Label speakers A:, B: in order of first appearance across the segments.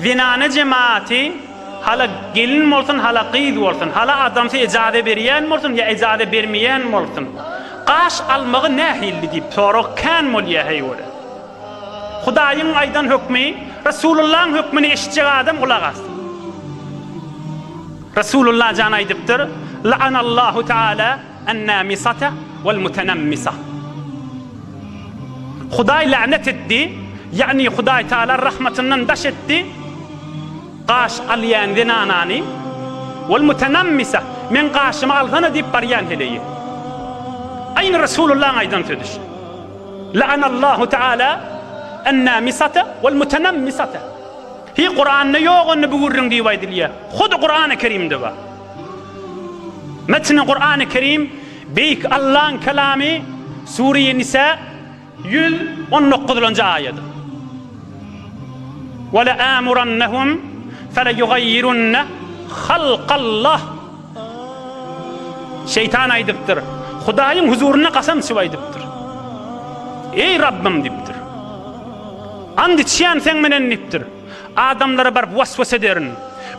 A: Zenana jematy hala gelin bolsun, hala gyz bolsun, hala adamsy ejaza berýän bolsun ýa ejaza bermeýän bolsun, gaş almagy nähilli diýip sorag kän bolýar heýwere. Hudaýyň aýdan hökmi, Resulullaň hökmüni eşitjek adam gulak assyn. Resulullah jan aýdypdyr, La'anallahu taala An-namisata wal-mutanammisah. Hudaý länet etdi, ýagny Hudaý Taala rahmatyndan daş etdi, gaş alýan zenanany, wal-mutanammisah, meň gaşymy alsana diýip barýan heleýi. Aýny Resulullahyň aýdan sözi şu. La'anallahu Taala an-namisata wal-mutanammisata. Hi Kuranda ýok onda bu gürrüň diýip aýdylýar. Hudy Kurany Kerimde bar. Metni Kur'an-ı Kerim, Beýik Allaň Kelamy, Sure-i Nisa, ýüz on dokuzynjy aýat. Weleamurannahum feleýugaýýirunne halkallah. Şeýtan aýdypdyr, Hudaýyň huzurynda kasam içip aýdypdyr. Eý Rabbym diýipdir. Ant içýän seň menen diýipdir. Adamlara baryp was-was ederin.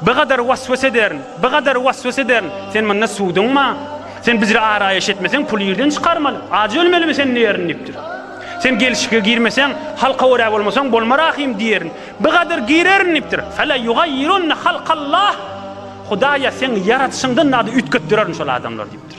A: Bigadar was-was ederin. Bigadar was-was ederin. Sen munda suwduňma? Sen bizre araýaş etmeseň, puly ýerden çykarmaly. Ajy ölmelimi sen diýerin diýipdir. Sen gelşike girmeseň, halka görä bolmasaň, bolma rahym diýerin. Bigadar girerin diýipdir. Fela ýugaýyrunna halkallah. Hudaýa seň ýaradyşyňdan zady üýtgetdirerin şol adamlar diýipdir.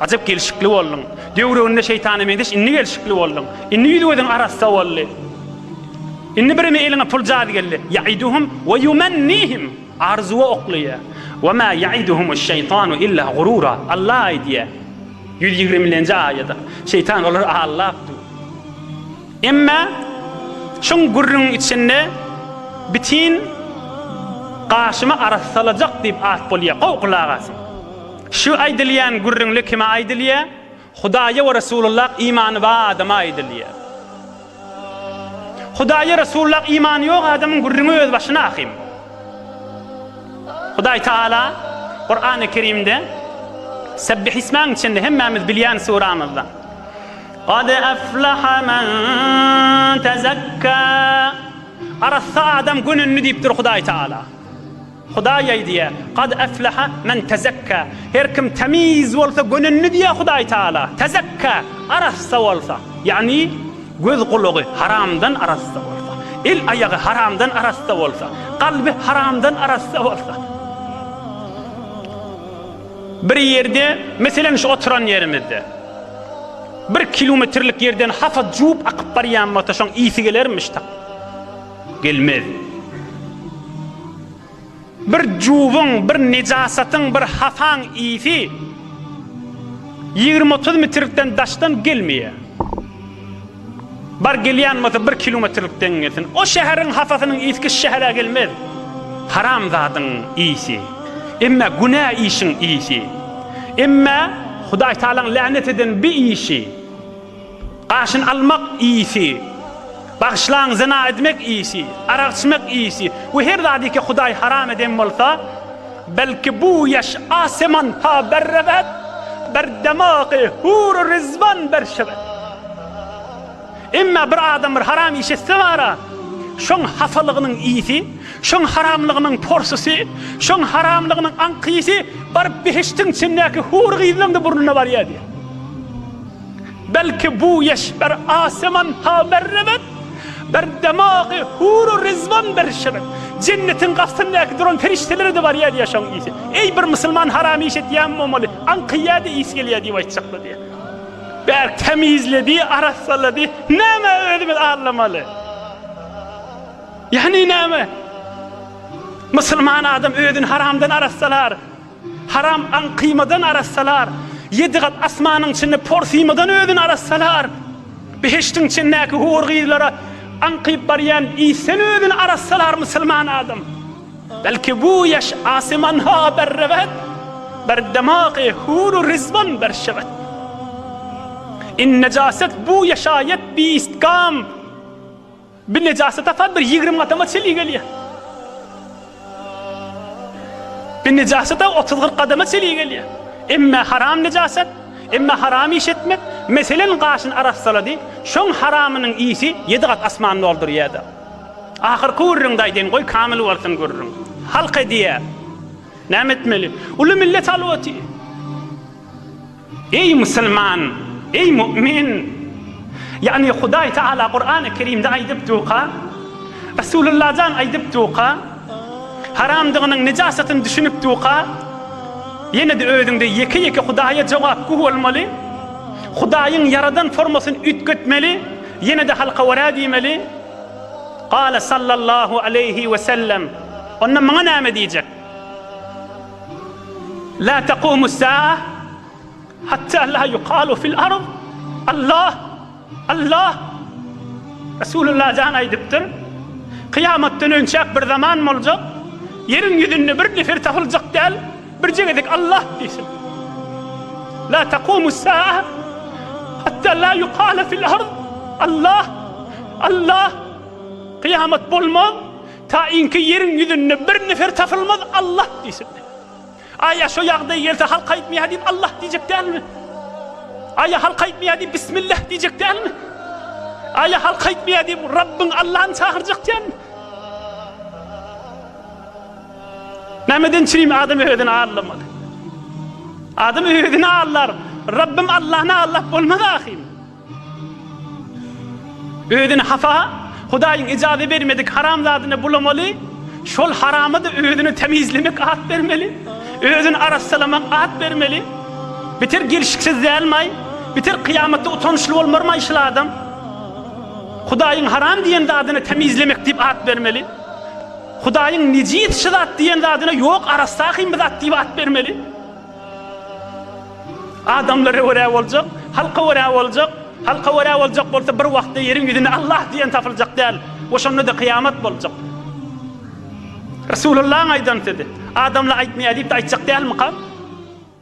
A: Ajap gelşikli bolduň. Döwrüginde şeýtana meňzeş indi gelşikli bolduň. Indi ýüz-gözüň arassa boldy. Indi birimi eliňe pul jady geldi. Ýaiduhum we ýumannihim. Arzuwa oklaýar. We ma ýaiduhumuş-şeýtanu illa gurura. Allah aýdýar. Ýüz ýigrimilenji aýat. Şeýtan olary aldap dur. Emma şuň gürrüňiň içinde bitin gaşymy arassalajak diýip at bolýar. Gowy gulak asyň. Şu aýdylýan gürrüňde kime aýdylýar? Hudaýa we Resulullah imany bar adama aýdylýar. Hudaýa Resulullah imany ýok adamyň gürrüňi öz başyna ahym. Hudaý Taala Kurany Kerimde Sebbih ismäň içinde hemmämiz bilýän suramyzda Gad aflaha men tezekka Arassa adam gönündi diýipdir Hudaý Taala. Hudaý aýdýar, Kad efleha men tezekka, Her kim temiz bolsa gönendi diýýär Hudaý Taala, tezekka, arassa bolsa, ýagny göz-gulagy haramdan arassa bolsa, el-aýagy haramdan arassa bolsa, kalby haramdan arassa bolsa. Bir ýerde, meselem şu oturan ýerimizde, bir kilometrlik ýerden hapa juwup akyp barýan bolsa şoň ysy gelermiş tak. Gelmez. Bir juwuň, bir nejasatyň, bir hasaň ysy ýigrimi-otuz mitrlikden daşdan gelmeýär. Bar gelýän bolsa bir kilometrlikden gelsin. O şäheriň hasasynyň ysky şu şähere gelmez. Haramzadyň ysy. Emme günä işiň ysy. Emme Hudaýtagalaň länet eden bi işi. Gaşyn almak iýsi, bagyşlaň zyna edmek iýsi, arak içmek iýsi we her zadyki Hudaý haram eden bolsa, belki bu ýaş aseman ta berrebet, berdemagy hur-u rizwan berşebet. Emma bir adam bir haram iş etse bara, şoň hasalygynyň iýsi, şoň haramlygynyň porsysy, şoň haramlygynyň aňkyýsy baryp behiştiň içindäki hur gyzlaň-da burnuna barýar diýýär. Belki bu eşber aseman ha berrebet, Bir demagy huru rizwan berşebet. Jennetiň gapysyndaky duran perişdelere-de barýa diýýär şoň isi. Eý, bir musulman haram iş etýän bolmaly, aňkyýa-da isi gelýär diýip aýtjaklar diýýär. Bärik tämizledi, arassalady. Nämä özümiz allamaly? Ýagny näme? Musulman adam özüni haramdan arassalar. Haram aň kyýmadan arassalar, ýedi gat asmanyň içinde por syýmadan özüni arassalar, behiştiň içindäki hur gyzlara aňkyp barýan isden özüni arassalar musulman adam, belki bu ýaş asymanha bir rewet, bir demagy huru rizwan bir şewet. In nejaset bu ýaşaýat biist gam. Bir nejasy tapar, bir ýigrimi adama çili gelýär. Bir nejasy-da otuz-kyrk adama çili gelýär. Emme haram nejasat, emme haram iş etmek, meselen, gaşyny arassalady, şoň haramynyň isi ýedi gat asmany doldurýar-da. Ahyrky gürrüňde aýdaýyn, goý, kamyl bolsun gürrüň. Halk edýär. Näme etmeli? Uly millet halwaty. Eý musulman! Eý mu'min! Ýagny Hudaý Tagala Kurany Kerimde aýdypduka, Resulullah jan aýdypduka, haramdygynyň, nejasatyny düşünipduka, ýene-de özüňde ýeke-ýeke Hudaýa jogapgü bolmaly, Hudaýyň ýaradan formasyny üýtgetmeli, ýene-de halka wara diýmeli. Gale sallallahu aleýhi we sellem. Onda maňa näme diýjek? La taqumus saa hatta la yuqalu fil ard Allah Allah Resulullah jan aýdypdyr, Kyýamatdan önçäk bir zaman boljak, ýeriň ýüzünde bir nefer tapyljak däl, birje gezek Allah diýsin. La taqumus saa hatta la yuqala fil ard Allah Allah Kyýamat bolmaz, Taýynki ýeriň ýüzünde bir nefer tapylmaz Allah diýsin. Aý ýa şo ýagdaý gelse halk aýtmaýar diýip Allah diýjek dälmi? Aý ýa halk aýtmaýar diýip Bismillah diýjek dälmi? Aý ýa halk aýtmaýar diýip Rabbyň Allahny çagyrjak dälmi? Nämeden çyn adam özüni allamaly? Adam özüni allar. Rabbym Allahny allap bolmaz ahyryn. Özüni hapa, Hudaýyň ijazä bermedik haram zadyna bulamaly, şol harama-da özüni temizlemek at bermeli, özüni arassalamak at bermeli. Biter gelşiksiz dälmaý? Biter kyýamatda utançly bolmarmaý şul adam? Hudaýyň haram diýen zadyna temizlemek diýip at bermeli. Hudaýyň nejis şu zat diýen zadyna ýok, arassa-hym bu zat diýip at bermeli. Adamlara görä boljak, halka görä boljak, halka görä boljak bolsa bir wagtda ýeriň ýüzünde Allah diýen tapyljak däl we şonda-da kyýamat boljak. Resulyllahyň aýdan sözi, adamlar aýtmaýar diýip-de aýtjak dälmyka?